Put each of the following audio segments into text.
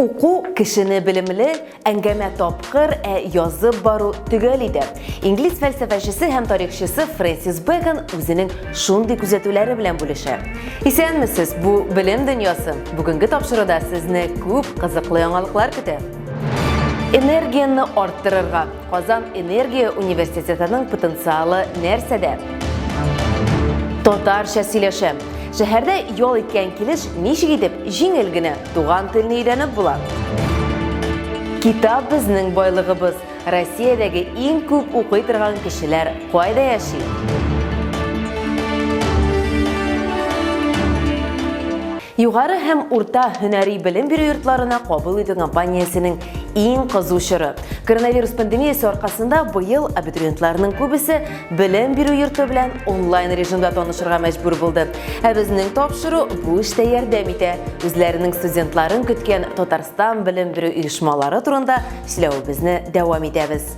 Уку кешене белемле, әңгәмә тапкыр, ә язып бару төгәл иде. Инглиз фәлсәфәчесе һәм тарихчысы Фрэнсис Бэкон үзенең шундый күзәтүләре белән бүлешә. Исәнмесез, бу белем дөньясы. Бүгенге тапшыруда сезне күп кызыклы яңалыклар көтә. Энергияне арттырырга, Казан энергия университетының потенциалы нәрсәдә? Татарча сөйләшә. Шәһәрдә ял иткән килеш ничек итеп җиңел генә туган телне өйрәнеп була? Китап безнең байлыгыбыз. Россиядәге иң күп укый торган кешеләр кайда яши? Югары һәм урта һөнәри белем бирү йортларына кабул итү компаниясенең Иң кызу чоры. Коронавирус пандемиясе аркасында быел абитуриентларның күбесе белем бирү йорты белән онлайн режимда танышырга мәҗбүр булды. Ә безнең тапшыру бу эштә ярдәм итә. Үзләренең студентларын көткән Татарстан белем бирү оешмалары турында сөйләвебезне дәвам итәбез.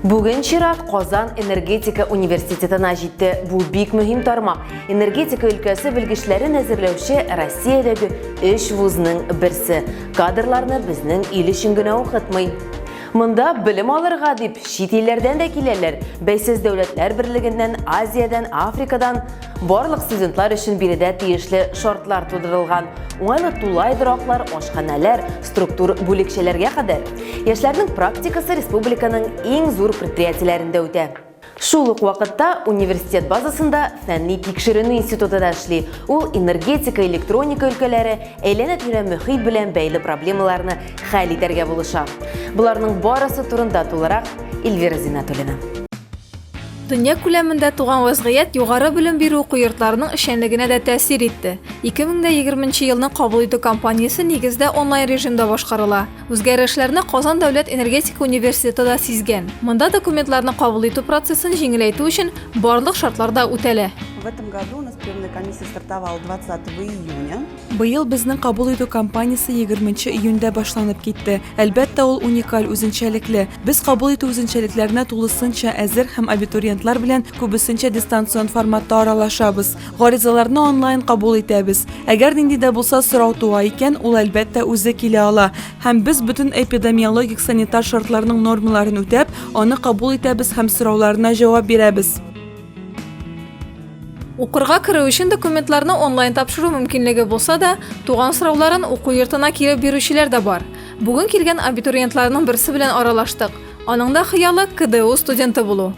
Бүген чират Казан энергетика университетына җитте. Бу бик мөһим тармак. Энергетика өлкәсе белгечләрен әзерләүче Россиядәге өч вузның берсе. Кадрларны безнең ил өчен генә укытмый. Монда белем алырга дип чит илләрдән дә киләләр, бәйсез дәүләтләр берлегеннән, Азиядән, Африкадан. Барлык студентлар өчен биредә тиешле шартлар тудырылган. Уңайлы тулай дораклар, ашханәләр, структур бүлекчәләргә кадәр. Яшьләрнең практикасы республиканың иң зур предприятиеләрендә үтә. Шул ук вакытта университет базасында фәнни тикшеренү институты да эшли. Ул энергетика, электроника өлкәләре, әйләнә-тирә мөхит белән бәйле проблемаларны хәл итәргә булыша. Боларның барысы турында тулырак Эльвира Зиннәтуллина. Дөнья күләмендә туган вәзгыять югары белем бирү уку йортларының эшчәнлегенә дә тәэсир итте. 2020 елның кабул итү кампаниясе нигездә онлайн режимда башкарыла. Үзгәрешләрне Казан дәүләт энергетика университеты да сизгән. Монда документларны кабул итү процессын җиңеләйтү өчен барлык шартлар да үтәлә. В этом году у нас приемная комиссия стартовала 20 июня. Быел безнең кабул итү кампаниясе 20 июньдә башланып китте. Әлбәттә, ул уникаль, үзенчәлекле. Без кабул итү үзенчәлекләренә тулысынча әзер һәм абитуриентлар белән күбесенчә дистанцион форматта аралашабыз. Гаризаларны онлайн кабул итәбез. Әгәр нинди дә булса сорау туа икән, ул әлбәттә үзе килә ала. Һәм без бөтен эпидемиологик санитар шартларның нормаларын үтәп, аны кабул итәбез һәм сорауларына җавап бирәбез. Укырга керү өчен документларны онлайн тапшыру мөмкинлеге булса да, туган сорауларын уку йортына килеп бирүчеләр дә бар. Бүген килгән абитуриентларның берсе белән аралаштык. Аның да хыялы КДУ студенты булу.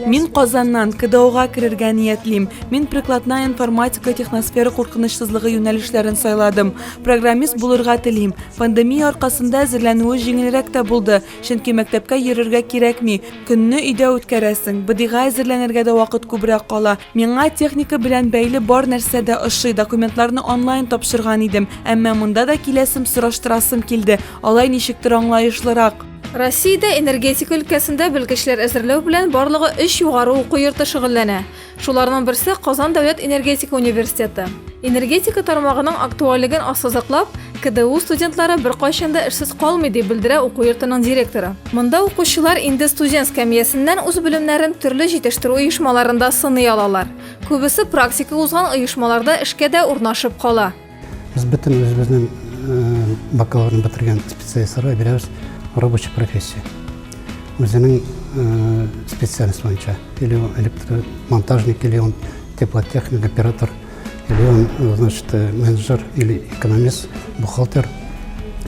Мин Казаннан КДОга керергә ниятлим. Мин прикладная информатика техносфера куркынычсызлыгы юнәлешләрен сайладым. Программист булырга телим. Пандемия аркасында әзерләнүе җиңелрәк тә булды, чөнки мәктәпкә йөрергә кирәкми. Көнне өйдә үткәрәсең. БДИга әзерләнергә дә вакыт күбрәк кала. Миңа техника белән бәйле бар нәрсә дә ошый. Документларны онлайн тапшырган идем. Әмма монда да киләсем, сораштырасым килде. Алай ничектер аңлаешлырак. Россиядә энергетика өлкәсендә белгечләр әзерләү белән барлыгы өч югары уку йорты шөгыльләнә. Шуларның берсе Казан дәүләт энергетика университеты. Энергетика тармагының актуальлеген ассызыклап, КДУ студентлары беркайчан да эшсез калмый, дип белдерә уку йортының директоры. Монда укучылар инде студент скамьясеннән үз белемнәрен төрле җитештерү оешмаларында сыный алалар. Күбесе практика узган оешмаларда эшкә дә урнашып кала. Без бөтен үзебезнең бакалаврны бетергән специалистларга бирәбез рабочий профессия. Үзенең специальность буенча, или он электромонтажник, или он теплотехник, оператор, или он, значит, э, менеджер, или экономист, бухгалтер.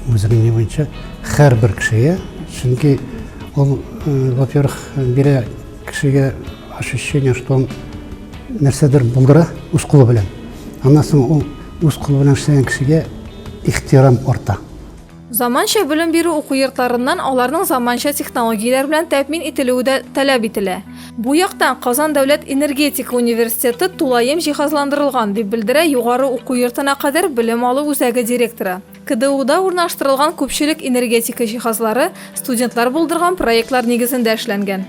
Үзенең не буенча һәрбер кешегә, чөнки ул, э, во-первых, бирә кешегә ощущение, что он нәрсәдер булдыра үз кулы белән аннан соң ул үз кулы белән эшләгән кешегә ихтирам арта заманча белем бирү уку йортларыннан аларның заманча технологияләр белән тәэмин ителүе дә таләп ителә бу яктан казан дәүләт энергетика университеты тулаем җиһазландырылган дип белдерә югары уку йортына кадәр белем алу үзәге директоры КДУда урнаштырылган күпчелек энергетика җиһазлары студентлар булдырган проектлар нигезендә эшләнгән.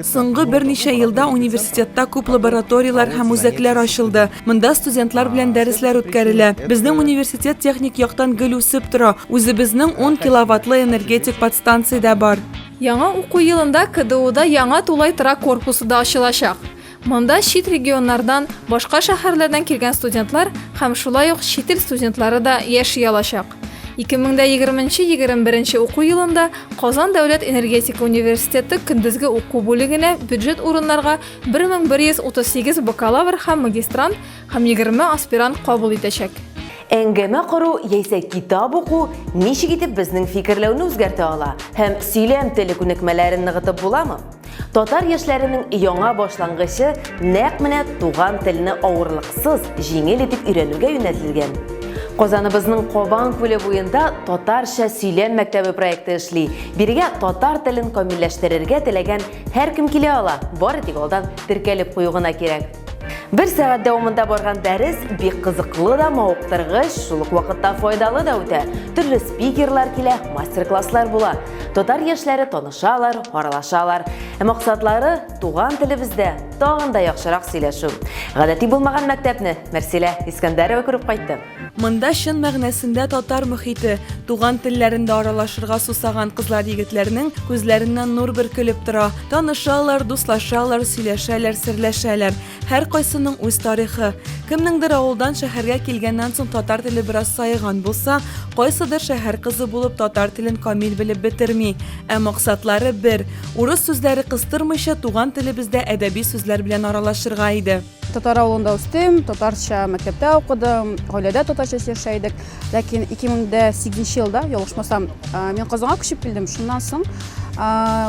Соңгы берничә елда университетта күп лабораторияләр һәм үзәкләр ачылды. Монда студентлар белән дәресләр үткәрелә. Безнең университет техник яктан гел үсеп тора. Үзебезнең ун киловаттлы энергетик подстанция дә бар. Яңа уку елында КДУда яңа тулай торак корпусы да ачылачак. Монда чит регионнардан, башка шәһәрләрдән килгән студентлар һәм шулай ук чит ил студентлары да яши алачак. 2020 нче 21 нче уку елында Казан дәүләт энергетика университеты көндезге уку бүлегенә бюджет урыннарга 1138 бакалавр һәм магистрант һәм 20 аспирант кабул итәчәк. Әңгәмә кору яисә китап уку ничек итеп безнең фикерләүне үзгәртә ала һәм сөйләм теле күнекмәләрен ныгытып буламы? Татар яшьләренең яңа башлангычы нәкъ менә туган телне авырлыксыз, җиңел итеп өйрәнүгә юнәлтелгән. Казаныбызның Кабан күле буенда татарча сөйләм мәктәбе проекты эшли. Бирегә татар телен камилләштерергә теләгән һәркем килә ала, бары тик алдан теркәлеп кую гына кирәк. Бер сәгать дәвамында барган дәрес бик кызыклы да, мавыктыргыч, шул ук вакытта файдалы да үтә. Төрле спикерлар килә, мастер-класслар була. Татар яшьләре танышалар, аралашалар. Ә максатлары туган телебездә тагын да яхшырак сөйләшү. Гадәти булмаган мәктәпне Мәрсилә Искәндәрова күреп кайтты. Монда чын мәгънәсендә татар мөхите, туган телләрендә аралашырга сусаган кызлар-егетләрнең күзләреннән нур бөркелеп тора. Танышалар, дуслашалар, сөйләшәләр, серләшәләр. Һәркайсының үз тарихы. Кемнеңдер авылдан шәһәргә килгәннән соң татар теле бераз саеган булса, кайсыдыр шәһәр кызы булып татар телен камил белеп бетерми. Ә максатлары бер. Урыс сүзләре кыстырмыйча, туган телебездә әдәби сүзләр белән аралашырга иде. Татар авылында үстем, татарча мәктәптә укыдым, гаиләдә татарча яшә идек. Ләкин 2008 елда, ялгышмасам, мин Казанга күчеп килдем. Шуннан соң,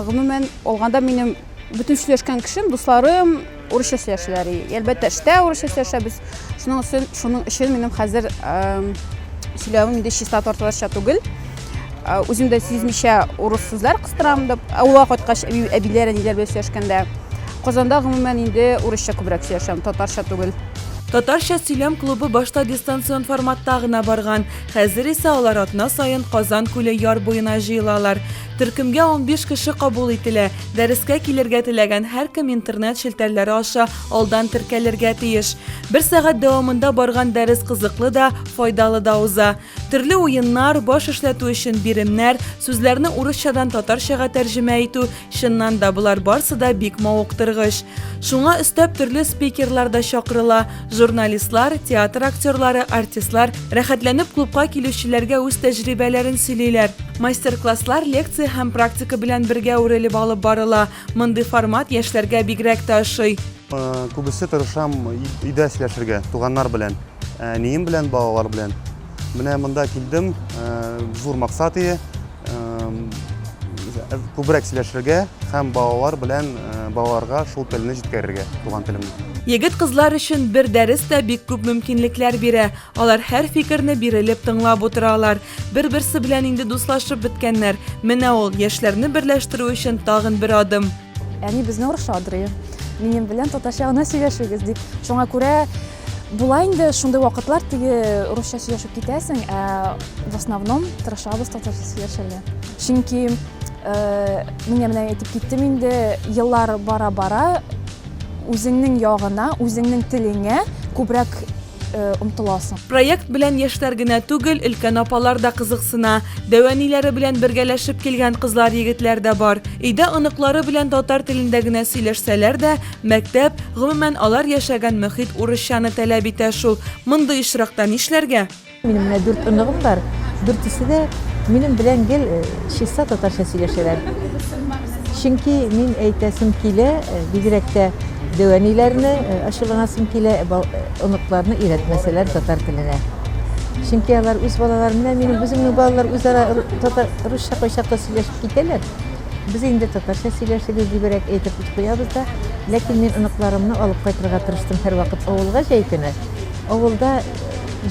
гомумән алганда минем бөтен сөйләшкән кешем, дусларым урысча сөйләшәләр. Әлбәттә, эштә урысча сөйләшәбез. Шуның өчен, шуның өчен минем хәзер сөйләвем инде чиста татарча түгел. Үзем дә сизмичә урыс сүзләр кыстырам дип, авылга кайткач әбиләр, әниләр белән сөйләшкәндә. Казанда гомумән инде урысча күбрәк сөйләшәм, татарча түгел. Татарча сөйләм клубы башта дистанцион форматта гына барган, хәзер исә алар атна саен Казан күле яр буена җыелалар. Төркемгә унбиш кеше кабул ителә. Дәрескә килергә теләгән һәркем интернет челтәрләре аша алдан теркәлергә тиеш. Бер сәгать дәвамында барган дәрес кызыклы да, файдалы да уза. Төрле уеннар, баш эшләтү өчен биремнәр, сүзләрне урысчадан татарчага тәрҗемә итү, чыннан да, болар барсы да бик мавыктыргыч. Шуңа өстәп төрле спикерлар да чакырыла, журналистлар, театр актерлары, артистлар рәхәтләнеп клубка килүчеләргә үз тәҗрибәләрен сөйлиләр. Мастер-класслар лекция һәм практика белән бергә үрелеп алып барыла. Мондый формат яшьләргә бигрәк тә ошый. Күбесе тырышам өйдә сөйләшергә, туганнар белән, әнием белән, балалар белән. Менә монда килдем, зур максат ие, күбрәк сөйләшергә һәм балалар белән балаларга шул телне җиткерергә, туган телемне. Егет-кызлар өчен бер дәрес тә бик күп мөмкинлекләр бирә. Алар һәр фикерне бирелеп тыңлап утыралар. Бер-берсе белән инде дуслашып беткәннәр. Менә ул, яшьләрне берләштерү өчен тагын бер адым. Әни безне оршадыр, минем белән татарча гына сөйләшегез дип. Шуңа күрә була инде шундый вакытлар теге русча сөйләшеп китәсең, ә в основном тырышабыз татарча сөйләшергә. Чөнки э, миңа менә әйтеп киттем инде, еллар бара-бара үзеңнең ягына, үзеңнең телеңә күбрәк омтыласың. Проект белән яшьләр генә түгел, өлкән апалар да кызыксына. Дәвәниләре белән бергәләшеп килгән кызлар-егетләр дә бар. Өйдә оныклары белән татар телендә генә сөйләшсәләр дә, мәктәп, гомумән, алар яшәгән мөхит урысчаны таләп итә шул. Мондый очракта нишләргә? Минем менә дүрт оныгым бар. Дүртесе дә минем белән гел чиста татарча сөйләшәләр. Чөнки мин әйтәсем килә, бигрәк тә, Дәү әниләрне ачуланасым килә, оныкларны өйрәтмәсәләр татар теленә. Чөнки алар үз балалары, менә минем үземнең балалар үзара татар русча кайчакта сөйләшеп китәләр. Без инде татарча сөйләшегез дибрәк әйтеп куябыз да. Ләкин мин оныкларымны алып кайтырга тырыштым һәрвакыт авылга җәй көне. Авылда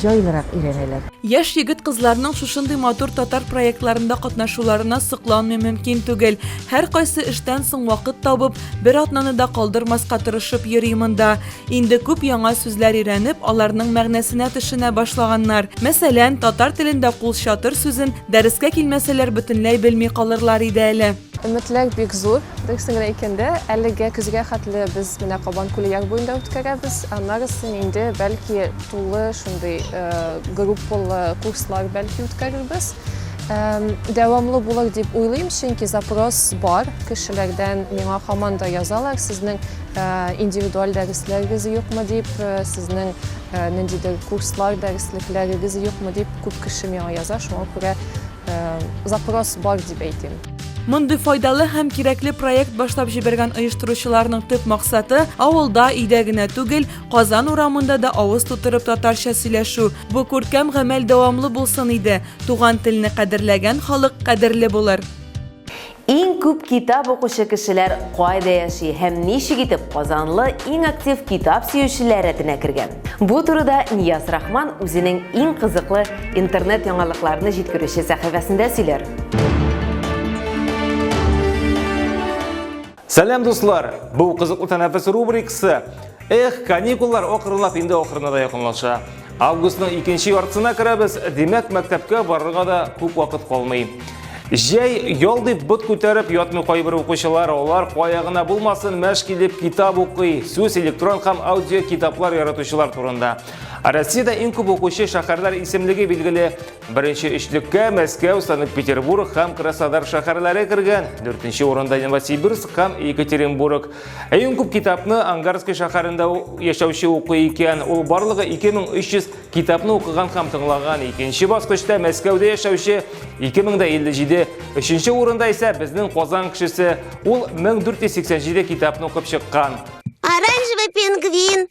җайлырак өйрәнәләр. Яшь егет-кызларның шушындый матур татар проектларында катнашуларына сокланмый мөмкин түгел. Һәркайсы эштән соң вакыт табып, Бер атнаны да калдырмаска тырышып йөри монда. Инде күп яңа сүзләр өйрәнеп, аларның мәгънәсенә төшенә башлаганнар. Мәсәлән, татар телендә кул чатыр сүзен дәрескә килмәсәләр бөтенләй белми калырлар иде әле. Өметләр бик зур, дөресен генә әйткәндә, әлегә көзгә хәтле без менә Кабан күле яр буенда үткәрәбез, аннарысын инде бәлки тулы шундый группалы курслар бәлки үткәрербез. Дәвамлы булыр дип уйлыйм, чөнки запрос бар. Кешеләрдән миңа һаман да язалар, сезнең индивидуаль дәресләрегез юкмы дип, сезнең ниндидер курслар, дәреслекләрегез юкмы дип күп кеше миңа яза, шуңа күрә запрос бар дип әйтим. Мондый файдалы һәм кирәкле проект башлап җибәргән оештыручыларның төп максаты, авылда, өйдә генә түгел, Казан урамында да авыз тутырып татарча сөйләшү. Бу күркәм гамәл дәвамлы булсын иде. Туган телне кадерләгән халык кадерле булыр. Иң күп китап укучы кешеләр кайда яши һәм ничек итеп Казанлы иң актив китап сөючеләр рәтенә кергән? Бу турыда Нияз Рахман үзенең иң кызыклы интернет яңалыкларны җиткерүче сәхифәсендә сөйләр. Сәлам дуслар! Бу кызыклы тәнәфес рубрикасы. Эх, каникуллар акрынлап инде ахырына да якынлаша. Августның икенче яртысына керәбез, димәк, мәктәпкә барырга да күп вакыт калмый. Җәй ял дип бот күтәреп ятмый кайбер укучылар, алар кая гына булмасын, мәш килеп китап укый, сүз электрон һәм аудио китаплар яратучылар турында. Россиядә иң күп укучы шәһәрләр исемлеге билгеле Беренче өчлеккә Мәскәү, Санкт-Петербург һәм Краснодар шәһәрләре кергән. Дүртенче урында Новосибирск һәм Екатеринбург. Иң күп китапны Ангарский шәһәрендә яшәүче укый икән. Ул барлыгы 2300 китапны укыган һәм тыңлаган. Икенче баскычта Мәскәүдә яшәүче 2057. Өченче урында исә безнең Казан кешесе. Ул 1487 китапны укып чыккан. Оранжевый пингвин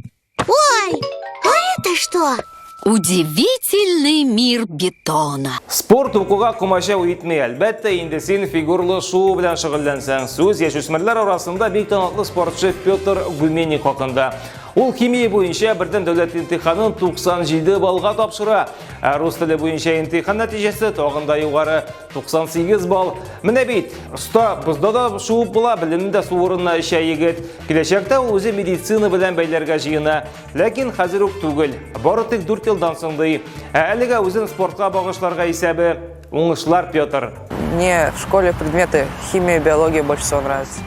Ой, а это что? Удивительный мир бетона. Спорт укуга комачау итми, әлбәттә, инде син фигурлы шуу белән шөгыльләнсәң, сүз яшүсмерләр арасында бик талантлы спортчы Петр Гуменник хакында. Ул химия буенча бердәм дәүләт имтиханын 97 баллга тапшыра. Ә рус теле буенча имтихан нәтиҗәсе тагын да югары 98 балл. Менә бит, оста, бозда да шуып була, белемне дә су урынына эчә егет. Киләчәктә ул үзе медицина белән бәйләргә җыена. Ләкин хәзер үк түгел. Бары тик 4 елдан соң ди. Ә әлегә үзен спортка багышларга исәбе. Уңышлар, Петр. Мне в школе предметы химия и биология больше всего нравятся.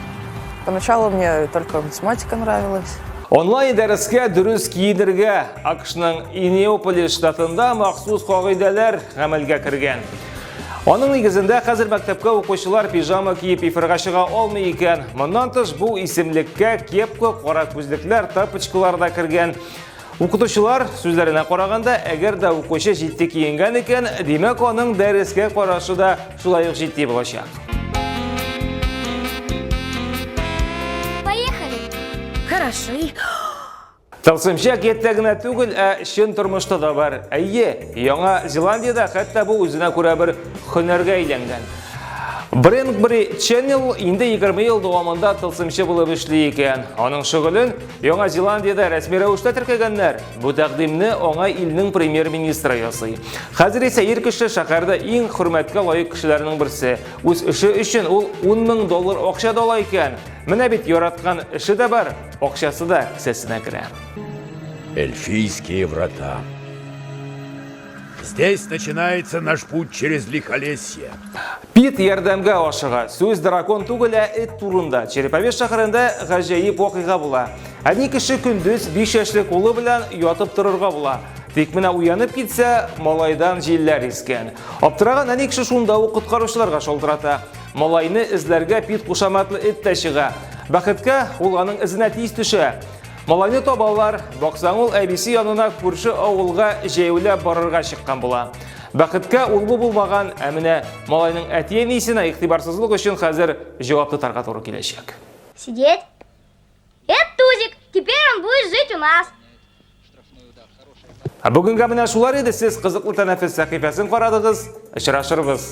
Поначалу мне только математика нравилась. Онлайн дәрескә дөрес киенергә АКШның Инеополис штатында махсус кагыйдәләр гамәлгә кергән. Аның нигезендә хәзер мәктәпкә укучылар пижама киеп эфирга чыга алмый икән. Моннан тыш бу исемлеккә кепка, кара күзлекләр, тапочкалар да кергән. Укытучылар сүзләренә караганда, әгәр дә укучы җитди киенгән икән, димәк аның дәрескә карашы да шулай ук җитди булачак. Поехали! Хорошо. Тылсымча киттә генә түгел, ә чын тормышта да бар. Әйе, Яңа Зеландиядә хәтта бу үзенә күрә бер хөнәргә әйләнгән. Бренкбри Ченнел инде 20 ел дәвамында тылсымчы булып эшли икән. Аның шөгылен Яңа Зеландиядә рәсми рәвештә теркәгәннәр. Бу тәкъдимне аңа илнең премьер-министры ясый. Хәзер исә ир кеше шәһәрдә иң хөрмәткә лаек кешеләрнең берсе. Үз эше өчен ул 10 мең доллар акча да ала икән. Менә бит яраткан эше дә бар. Акчасы да кесәсенә керә. Эльфийские врата. Здесь начинается наш путь через лихолесье. Пит ярдәмгә ашыга. Сүз дракон түгел, ә эт турында. Череповец шәһәрендә гаҗәеп вакыйга була. Әни кеше көндез биш яшьле кулы белән ятып торырга була. Тик менә уянып китсә, малайдан җилләр искән. Аптыраган әни кеше шунда ук коткаручыларга шалтырата. Малайны эзләргә пит кушаматлы эт тә чыга. Бәхеткә, ул аның эзенә тиз төшә. Малайны табалар, баксаң ул әбисе янына күрше авылга җәяүләп барырга чыккан була. Бәхеткә ул бу булмаган, ә менә малайның әти-әнисенә игътибарсызлык өчен хәзер җавап тотарга туры киләчәк. Сидеть. Это Тузик. Теперь он будет жить у нас. Ә бүгенге менә шулар иде. Сез кызыклы тәнәфес сәхифәсен карадыгыз. Очрашырбыз.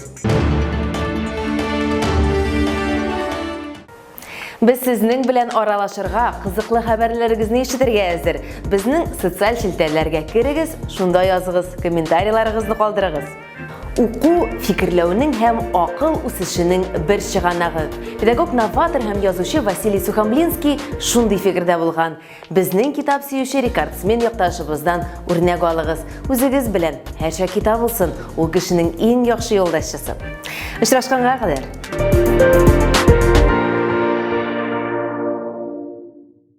Без сезнең белән аралашырга, кызыклы хәбәрләрегезне ишетергә әзер. Безнең социаль челтәрләргә керегез, шунда языгыз, комментарийларыгызны калдырыгыз. Уку фикерләүнең һәм акыл үсешенең бер чыганагы. Педагог новатор һәм язучы Василий Сухомлинский шундый фикердә булган. Безнең китап сөюче рекордсмен якташыбыздан үрнәк алыгыз. Үзегез белән һәр чак китап булсын, ул кешенең иң яхшы юлдашчысы. Очрашканга кадәр.